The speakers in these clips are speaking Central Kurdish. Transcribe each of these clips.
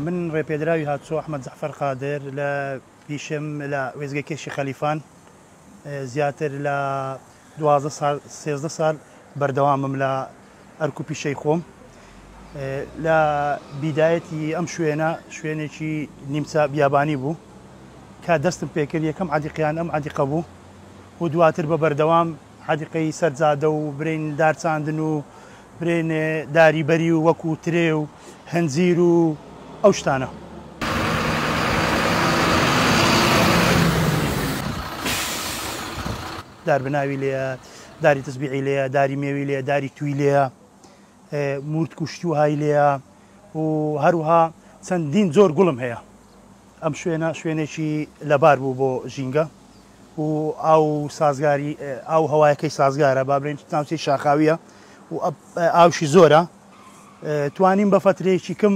من ڕێپێدراوی هاتوو ئەحمەد جەعفەر قادر لە پیشم لە وێزگەی کێشی خەلیفان زیاتر لە دوازدە سال سێزدە سال بەردەوامم لە ئەرک و پیشەی خۆم لە بیدایەتی ئەم شوێنە شوێنێکی نیمچە بیابانی بوو کە دەستم پێکرد یەکەم عادیقیان ئەم عادیقە بوو و دواتر بە بەردەوام عادیقەی سەرجادە و برین دارچاندن و برێن داری بەری و وەکو ترێ و هەنجیر و ئەو شتانە. دار بناوی لێیە، داری تسبیعی لێیە، داری مێوی لێیە، داری توی لێیە، مورتک و شتی وهای لێیە و هەروها چەندین زۆر گوڵم هەیە. ئەم شوێنە شوێنێکی لەبار بوو بۆ ژینگە و ئاو سازگاری ئاو هەوایەکەی سازگارە با بڵێن ناوچەی شاخاویە و ئاوشی زۆرە توانیم بە فەترەیەکی کەم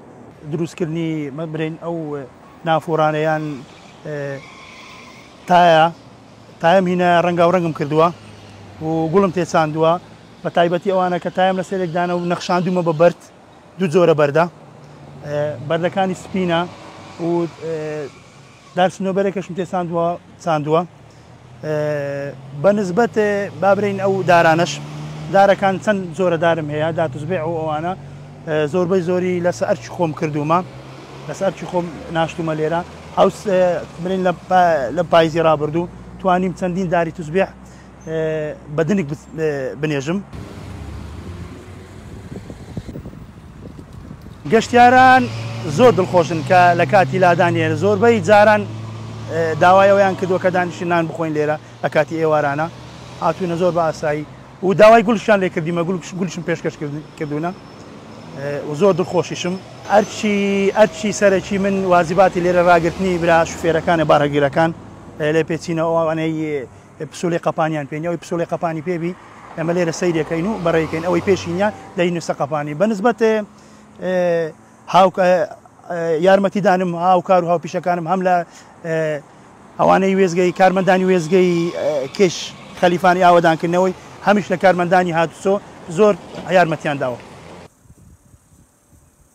دروستکردنی بلێن ئەو نافورانە یان تایە تایم هینە ڕەنگاوڕەنگم کردووە و گوڵم تێچاندووە بە تایبەتی ئەوانە کە تایم لە سێرێکدانە و نەخشاندومە بە بەرد دوو جۆرە بەردە بەردەکانی سپینە و دار سنۆبەرێکەشم تێ چاندوە چاندوە بە نسبەت با برێین ئەو دارانەش دارەکان چەند جۆرە دارم هەیە داتوزبێ ئەو ئەوانە زۆربەی زۆری لەسە ئەرچی خۆم کردومە لەسە ئەرچی خۆم ناشتومە لێرە ئەو برین لە پایزی رابردوو توانیم چەندین داری توزبێ بە دنک بنێژم. گەشتیاران زۆر دڵخۆشن کە لە کاتی لادانی هێنە زۆربەی جاران داوای ئەویان کردووە کە دانیشی نان بخۆین لێرە لە کاتی ئێوارانە هاتوونە زۆر بە ئاسایی و داوای گولشان لێ کردیمە گولشم پێشکەش کردوونە و زۆر دڵخۆشیشم ئەرچی ئەرچی سەرەکی من وازیباتی لێرە ڕاگررتنی برا شوفێرەکانە بارەگیرەکان لێ پێچینەوەوانەی پسولی قەپانیان پێ نیە ئەوی پسولی قەپانی پێ بی ئەمە لێرە سەیرەکەین و بەڕێکەین ئەوەی پێشی نیە دەی نووسە قەپانی بەنسبەت هاوک یارمەتیدانم هاوکار و هاوپیشەکانم هەم لە ئەوانەی وێزگەی کارمەندانی وێزگەی کێش خەلیفانی ئاوادانکردنەوەی هەمیش لە کارمەندانی هاتوچۆ زۆر یارمەتیان داوە.